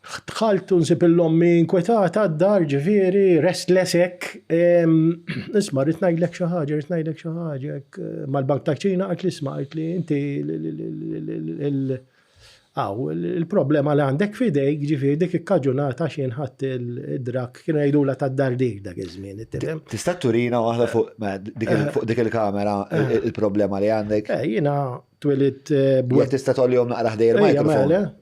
Dħalt u nsib l-ommi inkwetata d-dar ġifieri, restless hekk. Isma' rrid ngħidlek xi ħaġa, rrid ngħidlek xi ħaġa. Mal-bank ta' ċina qalt li isma' qalt li inti Aw, il-problema li għandek f'idejk ġifieri dik ikkaġunat għax jien ħadd id-drak kienu jgħidulha tad-dardir dak iż-żmien. Tista' turina waħda fuq dik il-kamera il-problema li għandek? Jiena twilidt b'wed. Tista' tgħollihom naqra ħdejn il-mikrofon.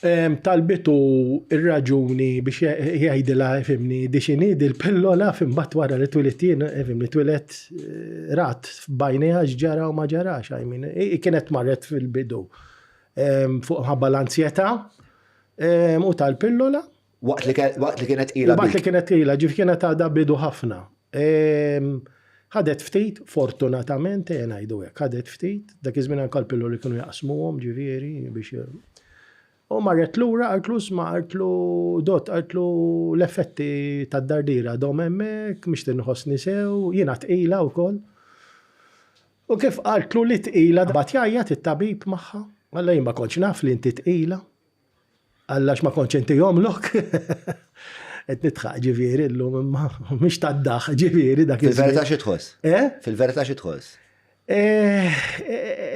talbitu r-raġuni biex jgħidilha fimni di xini dil-pillola fimbat wara li twilet jien fimni twilet eh, rat bajnija ġara u ma ġarax għajmin. Kienet marret fil-bidu fuq ħabba l-ansjeta u tal-pillola Waqt li kienet tqila. Waqt li kienet tqila, ġifieri kienet għadha bidu ħafna. Ħadet ftit, fortunatament, ejja ngħidu hekk, ħadet ftit, dak iż-żmien anke l-pilloli kienu jaqsmuhom ġifieri biex U marret lura qaltlu sma' qaltlu dott qaltlu l-effetti tad-dardira dom hemmhekk mhix tinħossni sew, jiena tqila wkoll. U kif qaltlu li tqila bad jgħajjat it-tabib magħha, alla jien ma kontx naf li inti tqila. Alla għax ma kontx intihomlok. Qed nidħaq ġifieri llum imma mhix tad-daħ ġifieri dak iż-żmien. Fil-verità xi tħoss? Eh? Fil-verità xi tħoss? Eh,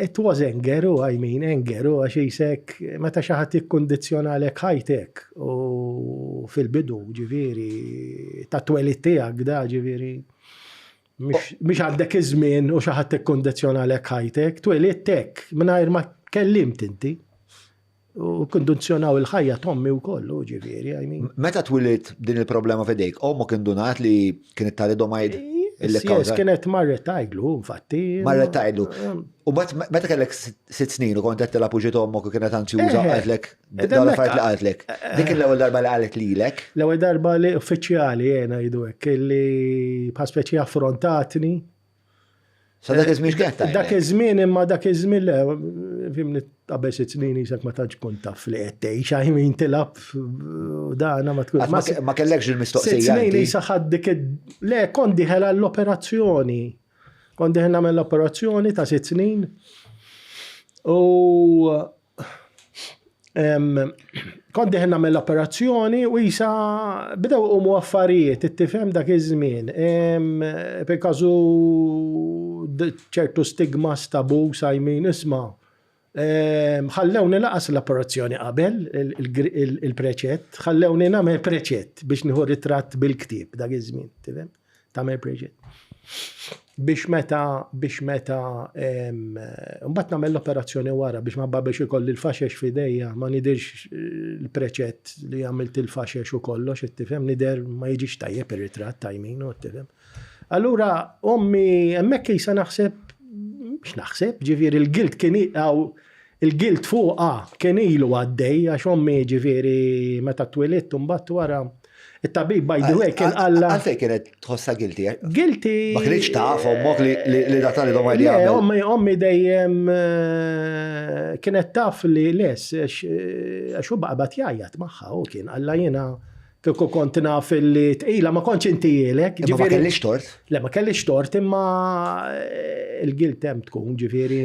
it was anger, u I mean anger, u għax jisek, meta xi ħadd ikkundizzjonalek ħajtek u fil-bidu ġifieri ta' twelid tiegħek da ġifieri mhix għandek iż-żmien u xi ħadd ikkundizzjonalek ħajtek, twelidtek mingħajr ma kellimt inti. U kondizjonaw il-ħajja tommi u kollu, ġiviri, għajmi. Meta twilit din il-problema fedejk, omok indunat li kienet talidomajd? Yes, kienet marret tajdlu, infatti. Marret tajdlu. Um, u bat meta kellek sitt snin u kont qed tilgħab uġiet ommok u kienet anzi uża eh, qaltlek, eh, dawn affarijiet li eh, qaltlek. Dik l-ewwel darba li qalet lilek. L-ewwel darba li uffiċjali jena jidu hekk li bħal speċi affrontatni Sa dak iż-żmien kienet tajba. Dak iż-żmien imma dak iż-żmien le fimni qabel sitt snin isak ma tantx kont taf li qed tgħix għajmin tilab dana ma tkun. Ma kellekx il-mistoqsija. Sitt snin isa ħadd dik le kont diħel għall-operazzjoni. Kont diħel nagħmel l-operazzjoni ta' sitt snin. U Kont diħin nagħmel l-operazzjoni u jisa bidew umu affarijiet, it-tifhem dak iż-żmien. Per kazu ċertu stigma stabu sajmin isma. Ħallewni laqas l-operazzjoni qabel il-preċett, ħallewni nagħmel preċett biex nieħu ritratt bil-ktieb dak iż-żmien, tifhem? Tagħmel Bridget. Biex meta, biex meta, mbagħad nagħmel l-operazzjoni wara biex ma biex ikolli l-faxex f'idejja ma nidirx eh, l-preċett li għamilt il-faxex u kollox, ittifhem, nider ma jiġix tajjeb ir-ritratt tajmin u ittifhem. Allura, ommi, hemmhekk jisa naħseb x'naħseb, ġifieri l-gilt kien iqaw Il-gilt fuqha kien ilu għaddej għax ommi jiġifieri meta twilidt u mbagħad wara it-tabib by the way kien qallha. Għalfejn kienet tħossha guilty? Eh? Guilty. Ma kienx taf ommok li da talidhom għal jagħmel. Ommi ommi dejjem eh, kienet taf li les eh, għax hu baqgħet jgħajjat magħha u kien qallha jiena Kieku kont naf li tqila ma kontx intijielek. Imma ma kellix tort. Le ma kellix tort imma eh, il-gilt hemm tkun ġifieri.